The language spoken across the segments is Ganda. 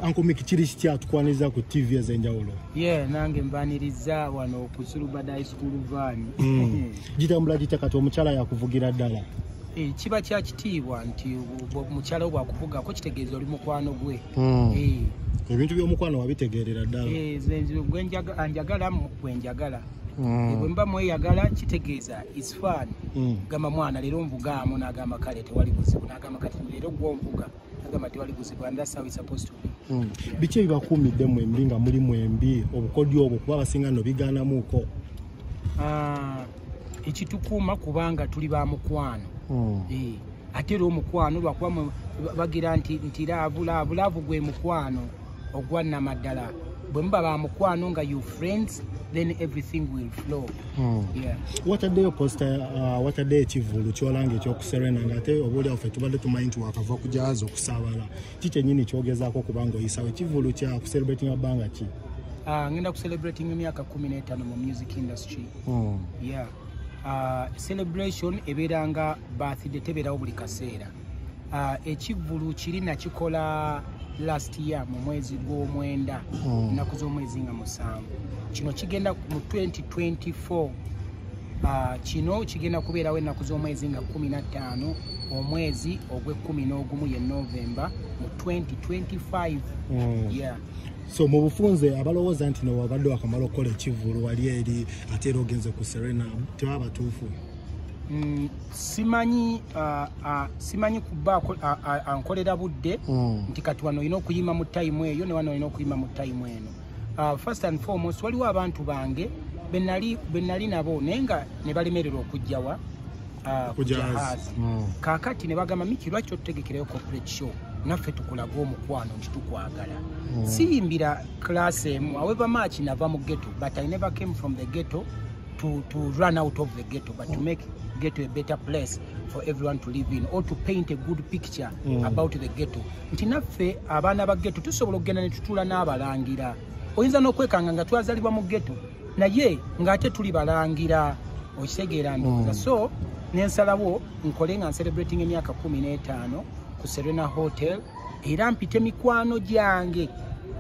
Uncle Mick kiri kitya tukwaniriza ku TV ez'enjawulo? Yeah, nange mbaniriza wano ku Sulubada High School van. Mm. Gitambula gitya kati omukyala yakuvugira ddala? Eh, kiba kya kitiibwa nti omukyala wo bwakuvuga ko kitegeeza oli mukwano gwe. Mm. Eh. Ebintu by'omukwano wabitegeerera ddala? Eh, gwe njagala gwe njagala. Mm. Ebwe mba mweyagala kitegeeza is fun. Mm. Gamba mwana leero nvugaamu n'agamba kale tewali buzibu n'agamba kati leero gw'onvuga. agamba nti baliguzibwa and that's how it's supposed to be hmm. biki ebibakuumidde mwembi nga muli mwembi obukodyo obwo kuba abasinga no bigaanamuuko ah, ekitukuuma kubanga tuli ba mukwano hmm. eh, ate era omukwano lwakuba bagira nti laavu laavu laavu gwe mukwano ogwa namaddala bwe muba ba mukwano nga you friends then everything will flow hmm. wataddeyo posta uh, wataddeyo ekivulu kyolanga ekyokuserena nga ate obaolyawo fe tubadde tumanyi nti wakava kujaza okusabala ki kyenyini kyogezaako okubanga oyisawo ekivulu kya kucelebratinga bbanga ki uh, ngenda kucelebrating emyaka kumi n'etaano mu music industry hmm. yeah uh, celebration ebeeranga birthday tebeerawo buli kaseera uh, ekivvulu kiri nakikola last year mu mwezi gw'omwenda hmm. nnaku mm. z'omwezi nga musanvu kino kigenda mu 2024 ah, kino uh, kigenda kubeerawo ennaku z'omwezi nga 15 omwezi ogw'ekumi n'ogumu ye novemba mu 2025 mm. yeah. so mu bufunze abalowooza nti nowabadde wakamala okukola ekivvulu wali eri ate era ogenze ku serena tebabatuufu Mm, simanyi uh, uh, simanyi kuba ankolera budde mm. nti kati wano olina okuyima mu tayimu eyo ne wano olina okuyima mu tayimu eno uh, first and foremost waliwo abantu bange benali nabo naye nga ne balemererwa okujjawa kujahazi mm. kakati ne bagamba miki lwaki otutegekerayo corporate show naffe tukulaga omukwano nti tukwagala siyimbira class emu aweva maaki nava mu ghetto but i never came from the ghetto to, to run out of the ghetto, but to make ghetto a better place for everyone to live in or to paint a good picture mm. about the ghetto. Nti naffe abaana ba ghetto tusobola okugenda ne tutuula n'abalangira. Oyinza n'okwekanga nga twazalibwa mu ghetto naye ng'ate tuli balangira okitegeera ndowooza mm. so nensalawo nkole nga ncelebrating emyaka kumi n'etaano ku serena hotel era mpite mikwano gyange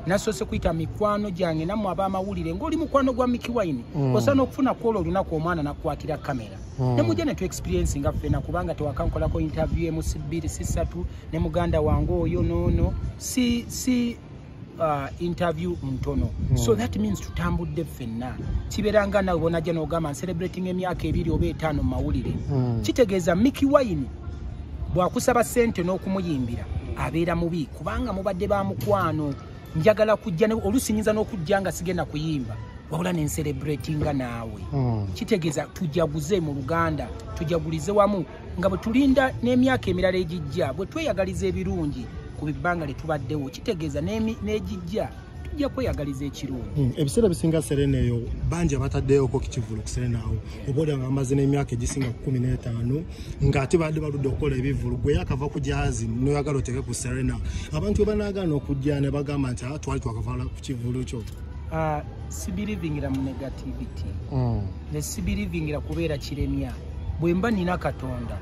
nasoose kuyita mikwano gyange nammwe ab'amawulire ng'oli mukwano gwa miki wine mm. osaana okufuna kwolwo olunaku omwana nakukwatira kamera mm. ne mujja ne tu experiensi nga ffena kubanga tewakankolako interview emu sibbiri sisatu ne muganda wange oyo noono si si uh, interview ntono mm. so that means tutambudde ffenna kibeera nga nawe bonajja nogamba ncelebrating emyaka ebiri oba etaano mumawulire mm. kitegeeza miki wine bwakusaba sente n'okumuyimbira abeera mubi kubanga mubadde ba mukwano njagala kujja olusi nyinza n'okujja nga sigenda kuyimba wabula ne ncelebratinga naawe mm. kitegeeza tujaguze mu luganda tujagulize wamu nga bwe tulinda n'emyaka emirala egijja bwe tweyagaliza ebirungi ku bibbanga lye tubaddewo kitegeeza n'egijja tujja kweyagaliza ekirungi hmm, ebiseera bisinga serena eyo bangi abataddeyoko kukivulu ku serena awo oba oli nga amaze n'emyaka egisinga ku kumi n'etaano nga ate badde baludde okukola ebivulu gwe yakava ku jahazi noyagala oteeke ku serena abantu bwe banaagaana okujja ne bagamba nti ah, twali twakavala ku kivulu kyo ah, sibirivingira mu negativity hmm. ne sibirivingira kubeera kiremya bwe mba nina katonda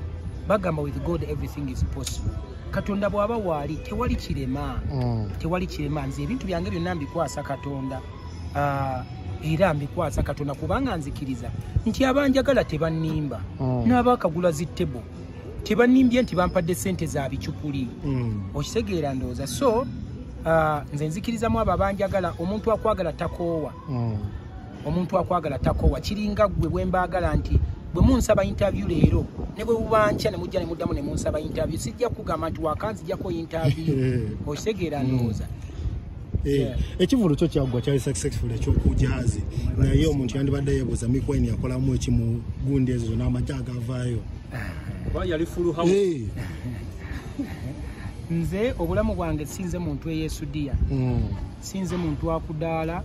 bagamba with god everything is possible katonda bw'aba waali tewali kirema mm. tewali kirema nze ebintu byange byonna mbikwasa katonda ah, era mbikwasa katonda kubanga nzikiriza nti abanjagala tebannimba mm. n'abaakagula zi table tebannimbye nti bampadde ssente za bicupuli mm. okitegeera ndowooza so ah, nze nzikirizamu abo abanjagala omuntu akwagala takoowa omuntu akwagala takowa kiringa gwe bwembaagala nti bwe munsaba interview leero ne bwe bubankya ne mujja ne muddamu ne munsaba interview sijja kugamba nti wakanzijako interview okitegeera hmm. ndowooza eh, ekivulu kyo kyaggwa kyali successful ekyokujazi naye omuntu yandibadde yebuuza mikwaini yakolamu ekimugundi ezo zona amagye agavaayo eh. nze obulamu bwange sinze muntu eyesudiya hmm. sinze muntu akudaala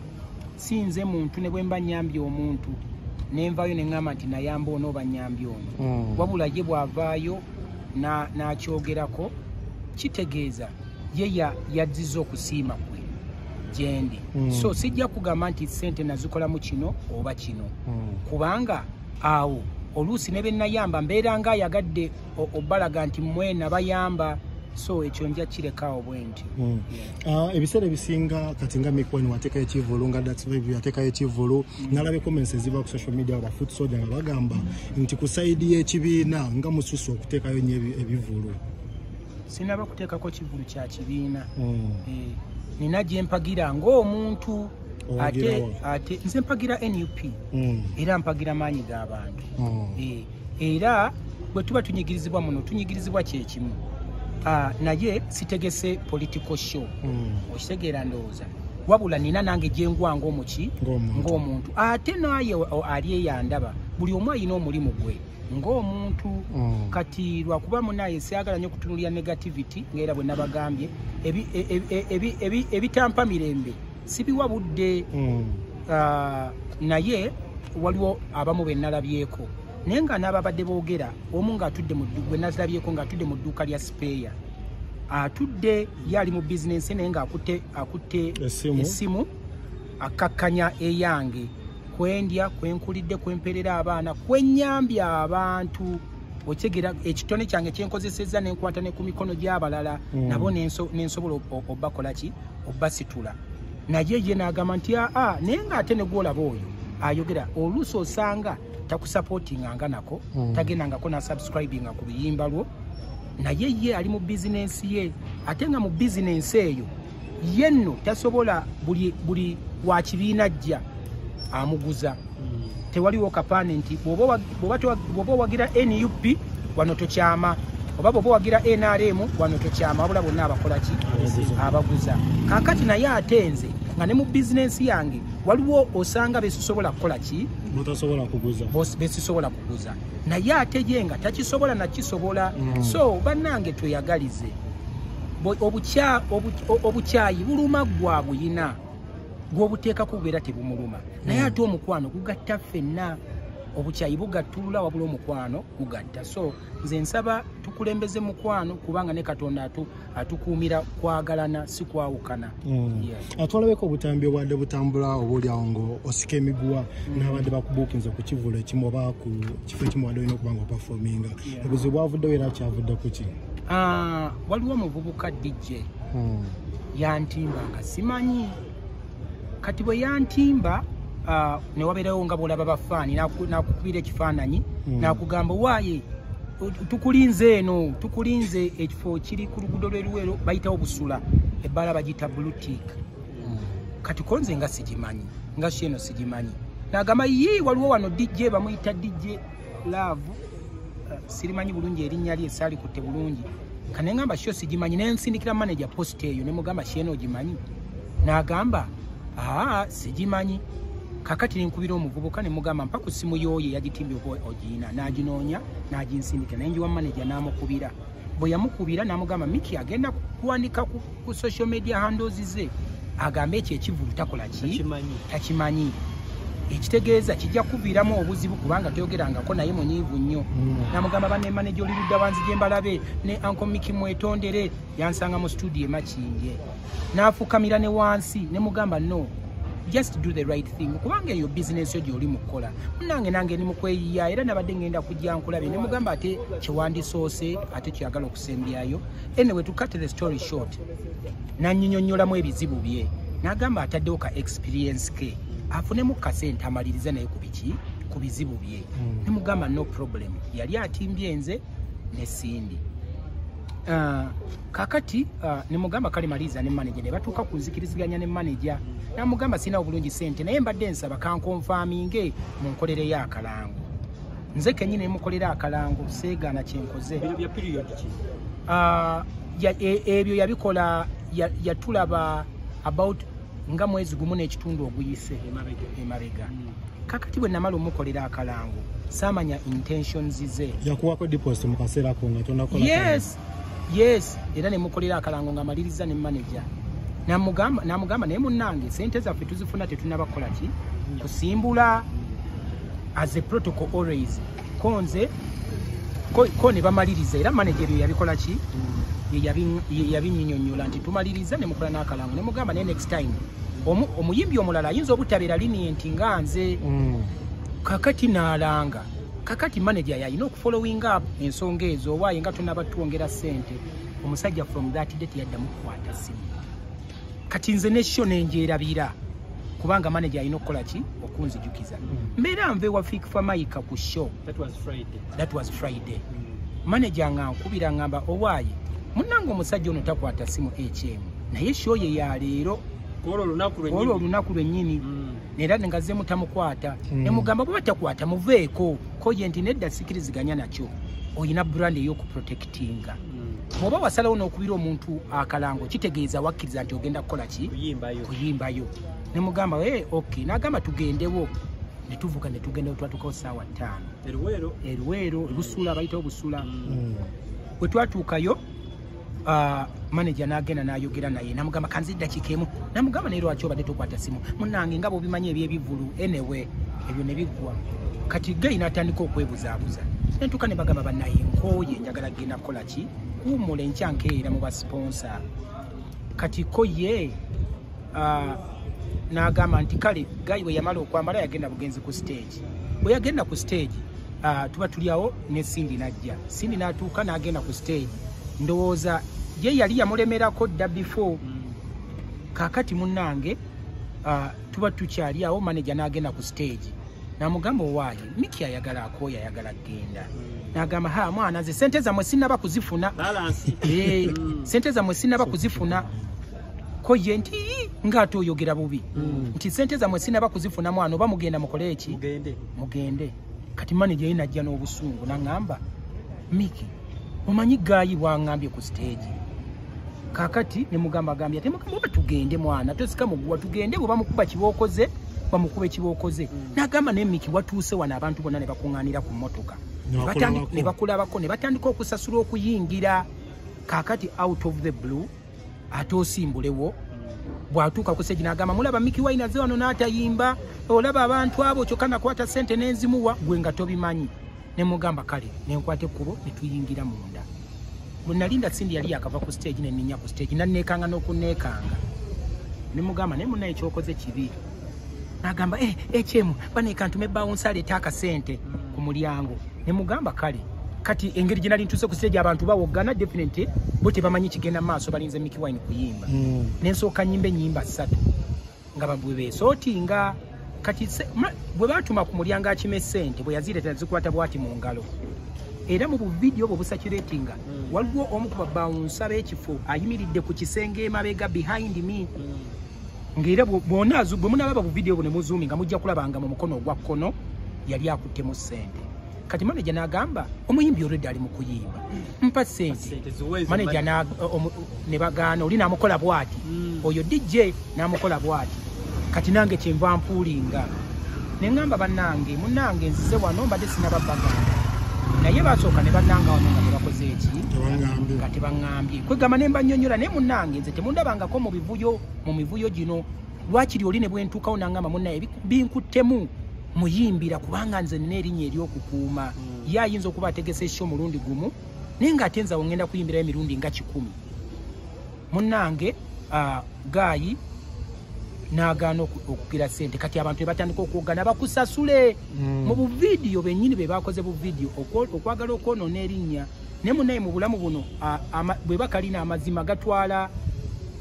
si nze muntu ne bwe mba nnyambye omuntu ne nvayo ne ŋŋamba nti nayamba ono oba nnyambye ono hmm. wabula ye bw'avaayo n'akyogerako kitegeeza ye yajjiza okusiima kwe gyendi hmm. so sijja kugamba nti ssente nazikolamu kino oba kino hmm. kubanga awo oluusi ne bennayamba mbeera nga ayagadde obalaga nti mwe nabayamba so ekyo nja kirekawo bwenti hmm. ah, ebiseera ebisinga kati nga mikwani wateekayo ekivulu nga datsviv yateekayo ekivulu hmm. nalaba ecomments eziva ku social media ba foot soja nga bagamba nti ku saidi y'ekibiina nga mususu okuteekayo nyo ebivulu sinaba kuteekako kivulu kya kibiina hmm. eh, nina gyempagira ngaomuntu ate ate nze mpagira nup mm. era mpagira maanyi g'abantu mm. eh, era bwe tuba tunyigirizibwa muno tunyigirizibwa kyekimu ah, naye sitegese political show mm. okitegeera ndowooza wabula nina nange gyengwa ngaomuki ngaomuntu ate naye ali eyandaba buli omu alina omulimu gwe ngaomuntu mm. kati lwakuba munaye syagala nyo okutunulira negativity ngaera bwe nabagambye ebitampa e, e, e, mirembe sibiwa budde mm. uh, naye waliwo abamu benalabyeko naye nga nababadde bogera omu ngaatudde gwenazirabyeko ngaatudde mu dduuka lya sipeeya atudde ye ali mu bizinensi naye ngaakutte akutte esimu akkakkanya eyange kwendya kwenkulidde kwemperera abaana kwenyambye abantu okyegera ekitone kyange kyenkozesezza nenkwata ne ku mikono gy'abalala mm. nabo nensobola obakolaki obbasitula naye ye n'agamba nti aa ah, ah, naye ng'ate ne gwolaba oyo ayogera oluusi osanga takusapotinganga nako mm. tagendangako nasubscribinga ku luyimba lwo naye ye ali mu bizinensi ye ate nga mu bizinensi eyo ye nno tasobola buli, buli wa kibiina jja amuguza tewaliwo kapande nti bwoba owagira nup wano tokyama oba bwoba owagira nrm wano tokyama wabula bonna abakolaki abaguza kakati naye ate nze nga ne mu bizinensi yange waliwo osanga besisobola kukola ki besisobola kuguza naye ate ye nga takisobola nakisobola mm. so bannange tweyagalize obukyayi buluma gwa buyina gwobuteekako bubeera tebumuluma naye hmm. ate omukwano gugatta ffenna obukyayi bugattulula wabula omukwano gugatta so nze nsaba tukulembeze mukwano kubanga ne katonda atu atukuumira kwagalana si kwawukana hmm. ah, twalabeko obutambi obwadde butambula oba olyawo ngo osika emiguwa hmm. n'abadde bakubuukinza ku kivulu ekimu oba ku kifo ekimu wadde olina okuba nga opafominga obuzibu bwavuddewo era kyavudde kuki Ah, waliwo omuvubuka dj hmm. yantimba nga simanyi kati bwe yantimba ah, newabeerawo nga bwolaba bafaani nakukubira ekifaananyi hmm. nakugamba waaye tukulinze eno tukulinze ekifo kiri ku lugudo lweruwero bayitawo busula ebbala bagiyita blutik hmm. kati konze nga sigimanyi nga si eno sigimanyi nagamba yii waliwo wano dj bamuyita dj laavu eh, sirimanyi bulungi erinnya lye saalikutte bulungi kane ngamba sho sigimanyi naye nsindikira manaja post eyo ne mugamba sheena ogimanyi n'agamba aa sigimanyi kakati nenkubira omuvubuka ne mugamba mpa ku ssimu yooyo eyagitimbye oba ogiina n'aginoonya n'aginsindikira naye njiwa manaja n'amukubira bwe yamukubira n'amugamba miki agenda kuwandika ku social media handozi ze agambe ekyo ekivulu takola ki takimanyi ekitegeeza kijja kuviiramu obuzibu kubanga toyogerangako naye munyiivu nnyo mm. namugamba banemaneja oli ludda wanzije mbalabe ne ankomiki mwetondere yansanga mu studio emakinje n'afukamira ne wansi ne mugamba no just do the right thing kubanga eyo bizinensi yo gyoli mu kukola munange nange ni mukweyiya era nabadde ngenda kujja nkulabe ne mugamba ate kyewandisoose ate kyagala okusembyayo anyway to cut the story short nanyinyonyolamu ebizibu bye nagamba ataddewo ka experience ke afunemu kasente amalirize naye ku biki ku bizibu bye hmm. ne mugamba no problem yali atimbye nze ne sindi uh, kakati uh, nemugamba kale maliza ne manager ne batuuka ku nzikiriziganya ne manager namugamba sirina obulungi sente naye mbadde nsaba kankonfaminge mu nkolero ey'akalango nze kenyini ne mukolera akalango seegaana kyenkoze uh, e, ebyo yabikola yatulaba about nga mwezi gumu n'ekitundu oguyise emabega hmm. kakati bwe namala omukolera akalango saamanya intentions ze yakuwako deposit mu kaseera ko nga tonakola yes yes era nemukolera akalango nga maliriza ne manager namugamba namugamba naye munange sente zaffe tuzifuna tetunaba kukola ki kusimbula as a protocol always konze ko, ko ne bamaliriza era manager ebyo yabikola ki yeyabinyinyonyola nti tumaliriza nemukola n'akalango nemugamba naye next time omuyimbi omulala ayinza obutabeera linienti nga nze mm. kakati naalanga kakati manager yalina okufollowing up ensonga ezo oba yenga tunaba twongera sente omusajja from that day teyaddamu kukwata simu kati nze nesho nenjerabira kubanga manager alina okukola ki okunzijukiza mm. mbeera nva ewa fik famayika ku show that was friday, that was friday. Mm. manager nga nkubira ngamba owaaye munange omusajja ono takwata simu ekyemu naye show ye ya leero olwo olunaku lwennyini mm. era ngaze mutamukwata mm. nemugamba bwe batakwata muveeko koje nti nedda sikiriziganya nakyo olina brand eyokuprotectinga mm. bwoba mm. wasalawo n'okubira omuntu akalango kitegeeza wakkiriza nti ogenda kukola ki kuyimbayo nemugamba e eh, ok nagamba tugendewo netuvuka netugenda wetwatukawo saawa ttaano eruweero ebusuula bayitawo busula mm. wetwatuukayo Ah, manager nagenda nayogera naye namugamba kanzi dakika emu namugamba naye lwaki obadde tokwata simu munange nga bwobimanyi ebyebivulu enewe ebyo nebiggwa kati gayi natandika okwebuzaabuza nentuka nebagamba banaye nkoye njagala kugenda kukola ki kuwumula enkyankeera mu basponsa kati ko ye ah, nagamba nti kale gayi weyamala okwambala yagenda bugenzi ku stage bweyagenda ku stage ah, tuba tuliawo ne Cindy najja Cindy natuuka n'agenda ku stage ndowooza ye yali yamulemerako dda before mm. kakati munange uh, tuba tukyali awo manaja n'agenda ku stage namugamba owaaye miki ayagala akooyo ayagala genda mm. nagamba ha mwana nze sente zamwe sinaba kuzifuna eh, mm. sente zamwe sinaba kuzifuna ko ye nti ngaate oyogera bubi mm. nti sente zamwe sinaba kuzifuna mwana oba mugenda mukole eki mugende kati manager ye najja n'obusungu nangamba miki omanyi gayi bwangambye ku stage kakati nemugamba agambye ate mugamba oba tugende mwana tosika muguwa tugende bwe bamukuba kibookoze bamukube kibookoze mm. nagamba naye miki watuuse wano abantu bonna ne bakuŋŋaanira ku mmotoka ne bakulabako ne batandika okusasula okuyingira kakati out of the blue ate osimbulewo bwatuuka ku segi nagamba mulaba miki waina ze wano n'atayimba olaba abantu abo kyokka nakwata sente nenzimuwa gwe nga tobimanyi nemugamba kale nenkwata ekkubo netuyingira munda bwenalinda sindi yali yakava ku stage neninya ku stage naneekanga n'okuneekanga nemugamba naye muna ekyokoze kibi nagamba eh, ekyemu eh, banekantume bawunsi aleeta akasente ku mulyango ne mugamba kale kati engeri gye nali ntuuse ku siteegi abantu bawoggana definitely bo tebamanyi kigenda mu maaso balinze miki wine kuyimba mm. ne nsooka nyimba ennyimba ssatu nga babwe beesootinga kati bwe baatuma ku mulyango akima esente bwe yazireeta zikwata bwati mu ngalo era mu buvidiyo obwo busakiratinga mm. waliwo omu ku babawunsa b'ekifo ayimiridde ku kisenge emabega behind me mm. ng'era bwona bwe munalaba bu vidiyo bune muzuumi nga mujja kulabanga mu mukono ogwa kkono yali akuttemu ssente kati maneja n'agamba omuyimbi olwedde ali mu kuyimba mpa ssente maneja ne bagaana oli n'amukola bwati hmm. oyo dj n'amukola bwati kati nange kyenva mpuulinga ne ŋŋamba bannange munnange nzize wano mbadde sinababagamba naye basooka ne bannanga wano nga tebakoze eki nga tebaŋŋambye kwegamba ne mbanyonyola naye munnange nze temundabangako mu bivu muvuyo mu mivuyo gino lwakiri oli ne bwentuukawo nangamba munaye binkuttemu muyimbira kubanga nze nina erinnya eryokukuuma hmm. ye ayinza okuba ategese ekyo omulundi gumu naye nga ate nzawo ngenda kuyimbirayo emirundi nga kikumi munange ah, gaayi nagaana okugira sente kati abantu bebatandika okwogana bakusasule hmm. mu buvidiyo benyini bebakoze buvidiyo okwagala okwonona erinnya ne munaye mu bulamu buno bwe bakalina amazima gatwala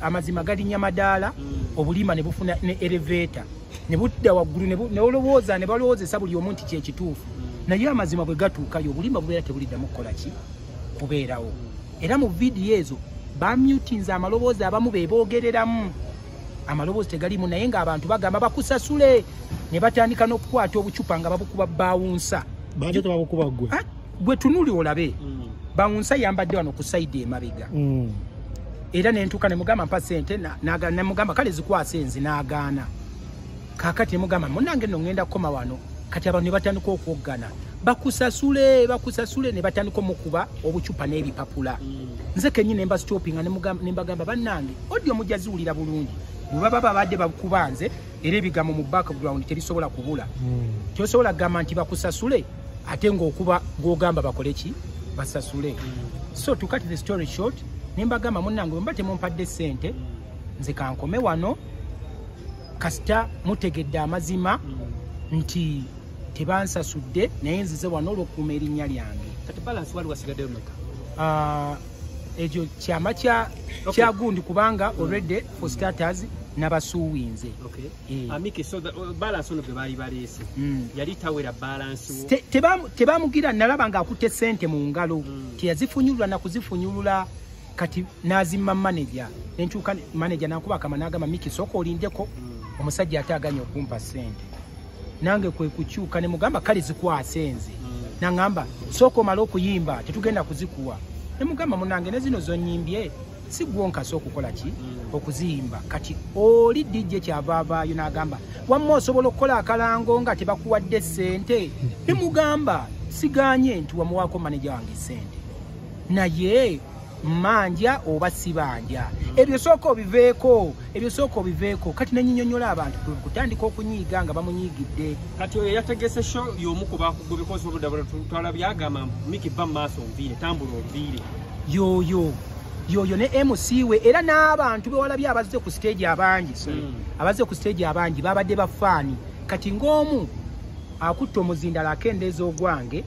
amazima galinya madaala mm. obulima ne bufuna ne elevator ne budda waggulu ne olowooza ne balowoozesa buli omu nti kyekituufu mm. naye amazima bwe gatuukayo obulima bubeera tebuliddamu kukola ki kubeerawo mm. era mu vidiyo ezo bamutinze amaloboozi abamu be boogereramu amaloboozi tegalimu naye ng'abantu bagamba bakusasule ne batandika n'okukwata obucupa nga babukuba bawunsa baate tebabukuba ggwe ah, gwe tunuli olabe mm. bawunsa yambadde wano ku saidi emabega mm. era nentuka nemugamba mpa sente nemugamba kale zikwasa enzi nagaana kakati nemugamba munange no ngenda kukoma wano kati abantu nebatandika okwoggana bakusasule bakusasule nebatandika omukuba obucupa n'ebipapula mm. nze kenyi nemba stoppinga nembagamba bannange odi omujaziwulira bulungi bwebaba babadde bakuba nze era ebigambo mu background tebisobola kubula hmm. tosobola kugamba nti bakusasule ate ngaokuba gwogamba bakole ki basasule hmm. so to cut the story short nembagamba munange mba temumpadde sente nze kankome wano kasita mutegedde amazima hmm. nti tebansasudde naye nzize wano olwokuuma erinnya lyange ah, ekyo kyama kyagundi kubanga mm. already for starters nabasuuwinze eh. uh, mm. tebamugira nalaba nga akutte sente mu ngalo mm. teyazifunyulula nakuzifunyulula kati nazimma manaja nenkyuka manaja nakuba akama nagamba miki soka olindeko omusajja ate aganya okumpa sente nange kwe kukyuka ne mugamba kale zikwase nze mm. nangamba sooka omale okuyimba tetugenda kuzikuwa ne mugamba munange ne zino zonyimbye si gwonkasa okukola ki mm. okuziyimba kati oli dj kyava avaayo n'agamba wamma osobola okukola akalango nga tebakuwadde ssente ne mugamba siganye nti wamuwaako maneja wange ssente naye manja oba sibanja ebyo sooka obiveeko ebyo sooka obiveeko kati nenyinyonyola abantu kutandika okunyiiga nga bamunyigidde kati oyo yategese sho yomu kubakugubikozi obudabula twala byagamba miki ba maaso nviire tambula onviire yoyo yoyo ne mc we era n'abantu bewalabye abazze ku stage abangi hmm. abazze ku stage abangi babadde bafaani kati ng'omu akutta omuzindala akendeeza ogwange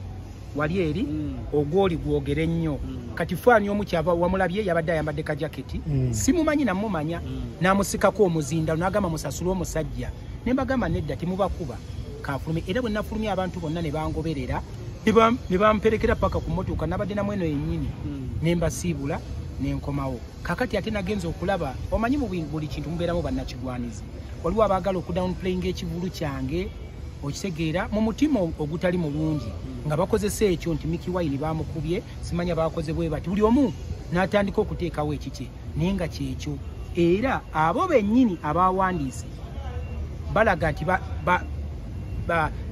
wali eri mm. ogwoli gwogere nnyo mm. kati faani omu kyava wamulabye yabadde ayambadde ka jaketi mm. simumanyi namumanya namusikako omuzinda nagamba musasule omusajja nembagamba nedda temubakuba kafulume era bwe nafulumye abantu bonna ne bangoberera ne bamperekera paka ku motoka nabadde namu eno yennyini ne mbasiibula ne nkomawo kakati ate nagenza okulaba omanyi mu buli kintu mubeeramu bannakigwanizi waliwo abaagala okudownplayinga ekivulu kyange okitegeera mu mutima ogutali mulungi nga bakozesa ekyo nti miki wayini bamukubye simanya bakoze bwe bati buli omu n'atandika okuteekawo ekikye naye nga kyekyo era abo bennyini abawandiise balaga nti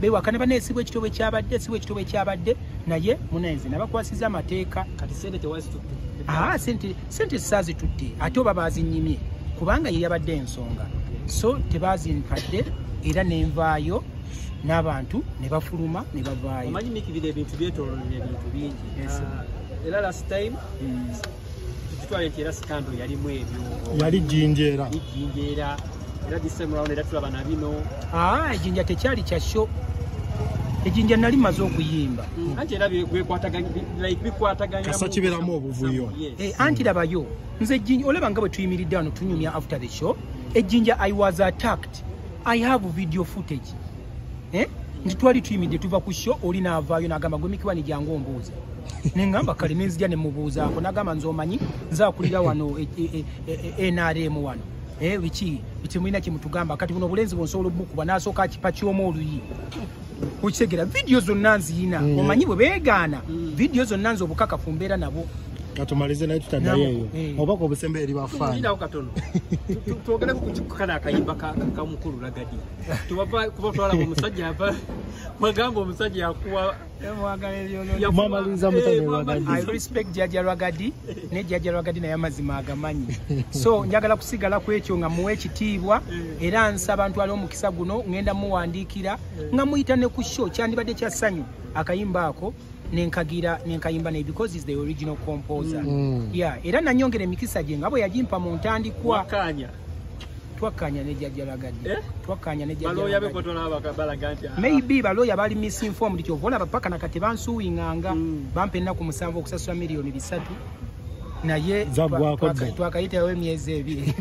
bewakana baneesibwa ekitobwe kyabadde sibwa ekitobwe kyabadde naye munayeze nabakwasiza amateeka kati sente tewazitutte ah, sente sente sazitudde ate oba bazinyimye kubanga ye yabadde ensonga so tebazinkadde era nenvaayo n'abantu ne bafuluma ne bavaayo omanyi mikibira ebintu byetololera ebintu bingi ah, era last time hmm. tukitwale nti era sikando yalimu ebyo yali jinjeera jinjeera era this time round era tulaba na bino ah ejinja tekyali kya show ejinja nali maze okuyimba mm. anti era byekwataganya like bikwataganya kasa kiberamu obuvuyo eh anti labayo nze ejinja olaba nga bwe tuyimiridde wano tunyumya after the show ejinja i was attacked i have video footage eh nti twali tuyimidde tuva ku show oli naavaayo nagamba gwe mikiwani jangu ombuuza nengamba kale nenzija nemubuuzaako nagamba nze omanyi nze akulira wano e, e, e, nrm wano Eh, biki biki mwina kimutugamba kati buno bulenzi bwonsobola obukuba nasooka akipa kyoma oluyi okitegera vidiyo zonna nziyina mm. omanyi bwe beegaana mm. vidiyo zonna nze obukaka ku mbeera nabo katumalize naye tutaddayoeyo eh. obaka obusembe eri bafaanao katono twogereko kukikukana akayimba kamukulu lagadi tubava kuba twalaba omusajja ava mwagamba omusajja yakuwa jajawagadi ne jajawagadi naye amazima agamanyi so njagala kusigala kwekyo nga muwa ekitiibwa era nsaba ntwala omukisa guno ngenda muwandiikira nga muyita ne ku sho kyandibadde kya ssanyu akayimba ako nenkagira nenkayimba naye because is the original composer mm. yeah era nanyongera emikisa gye nga bwe yagimpa mu ntandikwa twakkanya ne jajja lagadde eh? twakkanya ne jajja be kotola abaka balaga nti ah. maybe baloya bali misinformed kyo vola bapaka na kati bansuwinganga mm. bampe na ku musanvu okusasula milioni bisatu naye twakayitawo emyezi ebiri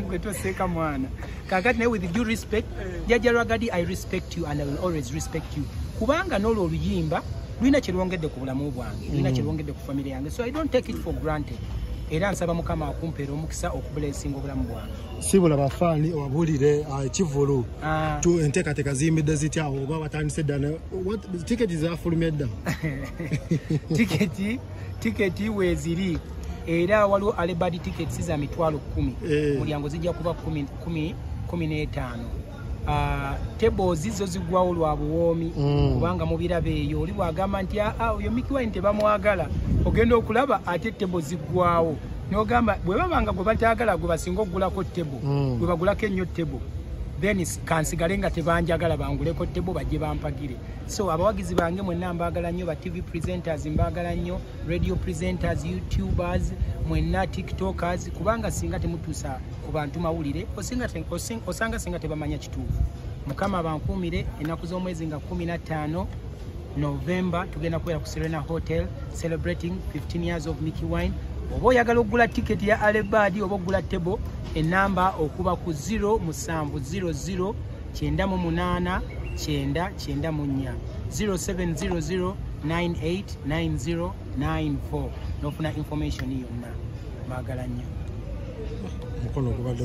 gwe toseeka mwana kakati naye with due respect eh. jajja lwagadi i respect you and i will always respect you kubanga nolwo oluyimba lulina kyerwongedde ku bulamu bwange lulina mm. kyerwongedde ku famire yange so i don't take it for granted era nsaba mukama akumpeera omukisa okubulesinga obulamu bwange sibula bafaani obabulire ah, ekivulu ah. tu enteekateeka ziyimbidde zitya oba batandise dda tiketi zafulumye dda tiketi tiketi weeziri era waliwo alebadi tiketi za mitwalo kumi eh. mulyango zijja kuba kumi n'etaano Ah, tebozi zo zigwawo lwa buwoomi mm. kubanga mubiraba eyo oli bwagamba nti aa ah, ah, oyo mikiwai nti tebamwagala ogenda okulaba ate tebo ziggwawo nogamba bwe babanga gwe bataagala gwe basinga okugulako tebo mm. gwe bagulako ennyo tebo then kansigale nga tebanjagala banguleko tebo bajje bampagire so abawagizi bange mwenna mbaagala nnyo ba tv presenters mbaagala nnyo radio presenters youtubers mwenna tiktokers kubanga singa temutusa ku bantu mawulire osanga singa tebamanya kituufu mukama abankuumire ennaku z'omwezi nga 15 november tugenda kubeera ku serena hotel celebrating 15 years of mickey wine oba oyagala okugula tiketi ya alebadi oba okugula table enamba okuba ku 0 musanvu 00 kyenda mu munaana kyenda kyenda mu nnya 0700989094 n'ofuna information yonna baagala nnyo mukono gubadde